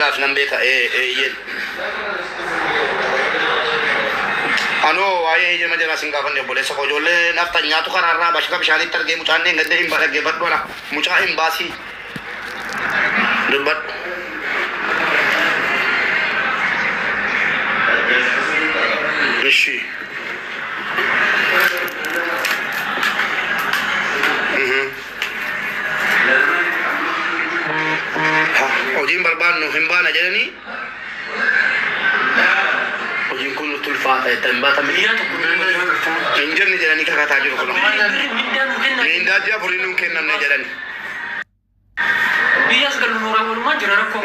Kanaaf nan beeka, ee, eeyyeen. Ani hoo waa'ee eeyyama jaraa sin gaafanne obboleessa koo ijoollee nafxanyaatu karaa irraa bashaka bishaaniitti argee mucaan dheengadda hin ba dhaggeeffadhu ana mucaa hin baasii dubbadhu. Ishi. Mhm. hojiin barbaadnu hin baana jedhanii hojiin kun nutti ulfaata itti hin baata miidiyaa tokko hin jenne jedhanii kakataa jiru kun miindaa ji'a afurii nuun kennamne jedhani biyyaas galu nu raawwalumaa jira rakkoo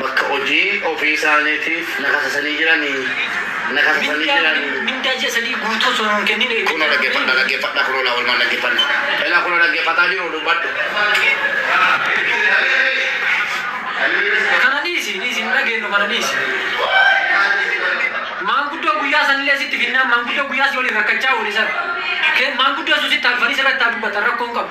bakka hojii ofii isaaniitiif na kakasanii jiranii na kakasanii Mindaa jiranii. malee mindaa ji'a sadii guutuu osoo nuun kennin eeggatu. Kunoo dhaggeeffadha dhaggeeffadha kunoo laa walmaan dhaggeeffanna. Elaa kunoo dhaggeeffataa jiru dubbadhu. Kana dhiisi dhiisi hin dhageenyu kana dhiisi. Maanguddoo guyyaa sanillee sitti finnaan maanguddoo guyyaa si waliin rakkachaa oole sana. Kee maanguddoo sun sitti alfanii sirratti haa dubbatan rakkoo hin qabu.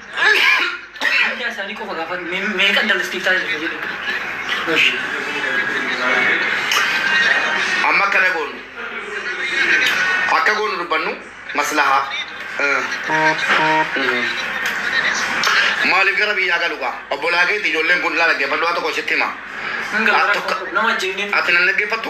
Biyyaa isaanii qofa gaafadhu mee meeqan dalastiif taasisa jedhu. Gosh. Amma akkana goonu. Akka goonu dubbannu maslahaa. Maaliif gara biyyaa galu gaa? Obbolaa keetti ijoolleen kun laala geeffadhu waa tokko sitti hima. Nama ajjeefnee. Ati nan dhaggeeffattu?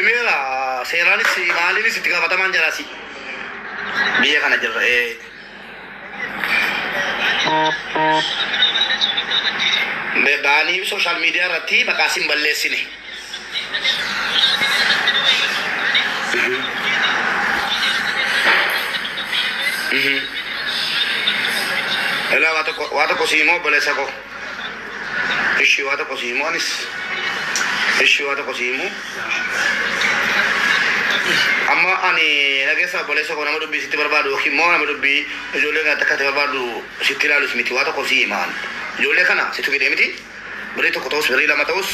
Imeela seeraanis maaliinis itti gaafatamaan jiraasi. Biyya kana jirra. ee. Be- Baanii sooshaal miidiyaa irratti maqaa sin balleessine. Mhm. Ilaa waa tokko waa tokko sii immoo obboleessa koo. Eshii waa tokko sii himuu anis Eshii waa tokko sii himuu Amma ani na keessaa obboleessa koo nama dubbii sitti barbaadu yookiin immoo nama dubbii ijoollee kana akka ati barbaaddu sitti ilaalus miti waa tokko sii hima ani ijoollee kana situ fidee miti birrii tokko ta'us birrii lama ta'us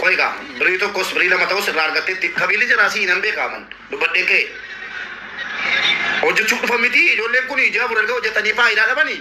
qo'i gaa birrii tokkos birrii lama ta'us irraa argatteetti qabiilli jiraa sii nan beekaa man dubbadheen ka'e hojjechuuf dhufan miti ijoolleen kun ijaa buralga hojjetanii faayidaa dhabanii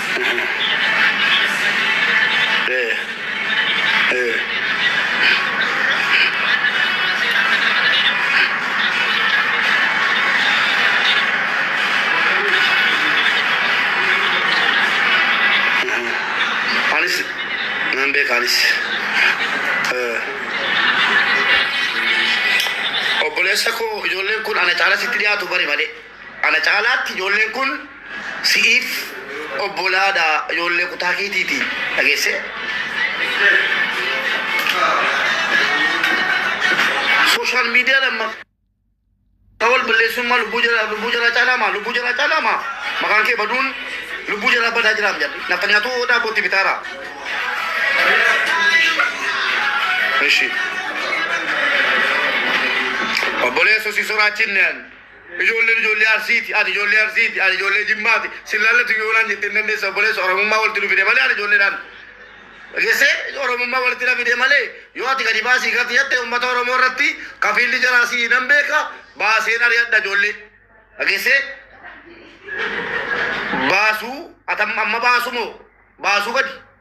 Anis nan beeka anis. Eh. Obboleessa koo ijoolleen kun ana caalaa sitti dhiyaatu bari malee. Ana caalaatti ijoolleen kun si'iif obbolaa dha, ijoollee kutaa keetii ti. Dhageesse? Social media dhaan maqaa wal balleessuun maa lubbuu jaraa lubbuu jaraa caalaa maa lubbuu jaraa caalaa maa maqaan kee baduun lubbuu jaraa badaa jiraam jedhe nafa nyaatuu odaa bootti bitaara. Ishi. Obboleessu si soraachinneen. Ijoolleen ijoollee Arsiiti, ati ijoollee Arsiiti, ani ijoollee Jimmaati, sin laallatu yoo naan jette hin dandeessa obboleessa Oromummaa walitti nu fide malee ani ijoolleedhaan dhagessee Oromummaa walitti na fide malee yoo ati gadi baasii gati jette uummata Oromoo irratti kafiilli jaraa sii nan beeka baaseen ari'adha ijoollee dhagessee baasuu ati amma amma baasumoo baasuu gadi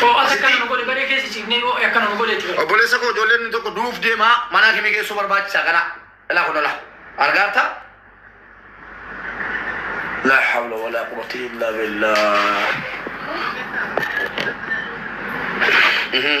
Too'as akkana nu godhe baree keessa ciifnee yoo akkana nu godhe itti fayyadamu. Obboleessa koo ijoolleen inni tokko du'uuf deema manaa kemii geessuu barbaachisa kana ilaa kun ilaa argaarta laa hawla walaa quwwata illaa billah Mhm.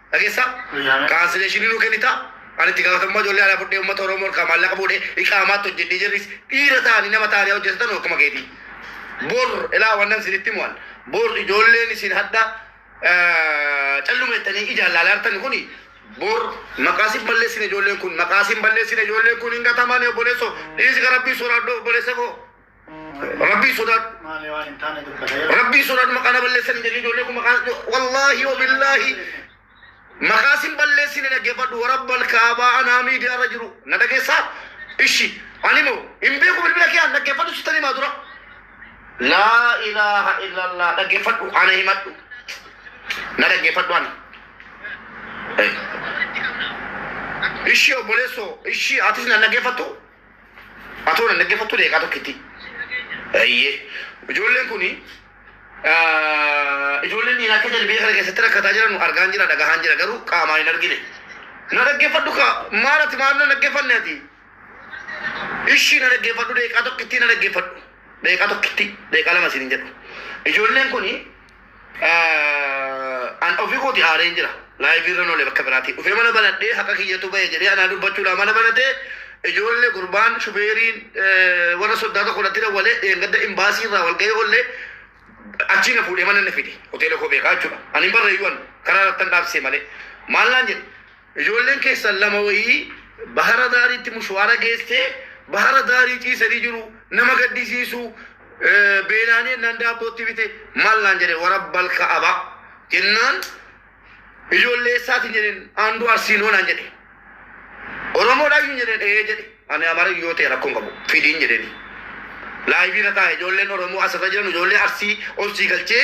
Dhageessaa? Kaansileeshinii nuu kennitaa? Ani itti gaafatamummaa ijoollee alaa fudhee uummata Oromoo harkaa maallaqa fuudhee iqaamaatti hojjedhee jarris dhiira ta'anii nama ta'anii haa hojjetatanu akkuma keetii. Bor ilaa wannan isinitti himu an bor ijoolleen isin hadha calluma jettanii ijaan laalaa jirtan kuni bor maqaa sin balleessine ijoolleen kun maqaa sin balleessine ijoolleen kun hin gatamani obboleesso dhiisi garabbii soraadhu obboleessa koo. Rabbii sodaadhu. Rabbii sodaadhu maqaa na balleessan hin jedhin ijoollee kun maqaa wallaahi wabillaahi maqaa sin balleessine dhaggeeffadhu warabbal kaabaa anaa miidiyaa irra jiru na dhageessaa ishi ani moo hin beeku bilbila kee an dhaggeeffadhu sitan himaa dura laa ilaaha illallah dhaggeeffadhu ana himadhu na dhaggeeffadhu ani ishii obboleessoo ishii atis na dhaggeeffattu Atoo nan dhaggeeffattu deeqaa tokkitti. Eeyyee. Ijoolleen kun ijoolleen dhiiraa akka jalbiyya kana keessatti rakkataa jiran argaan jira dhagahaan jira garuu qaamaan hin argine. Na dhaggeeffadhu kaa maal ati maal na dhaggeeffanne ati? Ishii na dhaggeeffadhu deeqaa tokkittii na dhaggeeffadhu. Deeqaa tokkittii deeqaa lama siin hin jedhu. Ijoolleen kun Eh, an ofii kooti aareen jira laayivii irra noole bakka biraatii dhufee mana banadhee haqa kiyyatu ba'e jedhee anaa dubbachuudhaan mana banatee ijoollee gurbaan shufeeriin eh, warra soddaa tokko irratti dawwalee dheengadda imbaasii irraa wal ga'ee ollee achii na fuudhee mana na fide hoteela koo beekaa jechuudha ani hin barreeyyuu an karaa irratti an dhaabsee malee maal naan jedhe Ijoolleen keessan lama wayii bahara daariitti mushuwaara geessee bahara daarii ciisanii jiru nama gaddisiisuu beelaanii ennaan daabboo itti bite maal naan jedhe warabbal ka'aba jennaan ijoollee eessaatiin jedheen aanduu arsiinoo naan jedhe oromoodhaayyuu jedheen ee jedhe ani amara yoo ta'e rakkoon qabu fidiin jedheen laayivii irra taa'e ijoolleen oromoo asirra jiran ijoollee arsii obsii galchee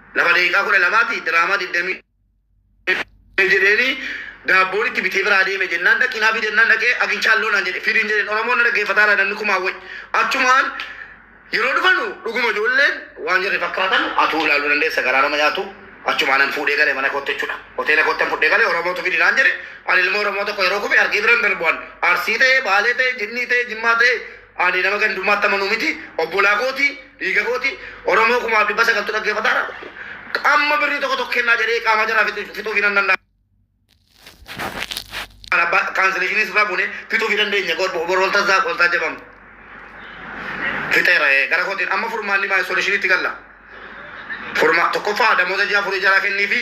Lafa daqiiqaa kudha lamaati diraamaa digdamii jedheeni daabboon itti bitee biraa deeme jennaan dhaqii naa fidi jennaan dhaqee aginchaalloo naan jedhe fidiin jedheen oromoon na dhaggeeffataa jira namni kumaan wayi achumaan yeroo dhufanu dhuguma ijoolleen waan jarri fakkaatan atuu ilaaluu dandeessa garaa nama nyaatu achumaanan fuudhee gale mana kootti jechuudha hoteela koottan fudhee gale oromootu fidi naan jedhe ani ilmoo oromoo tokko yeroo kufe argee biran darbu'an arsii ta'e baalee ta'e jinnii ta'e jimmaa ta'e Ani nama gandummaatti amanu miti. Obbolaa kooti, dhiiga kooti. Oromoo kumaaf dhibba sagaltu dhaggeeffataara. Amma birrii tokko tokko kennaa jedhee qaamaa jaraa fixu- fixuufi nan danda'a. Kan abbaa kaansileeshinii sirraa buune fixuufi dandeenya. Bor bor olta zaaq olta jabam. Fixeera ee, gara kootiin amma furmaanni maa isoleshiniitti galla. Furmaa tokkoffaa damoota ji'a afurii jaraa kenniifi.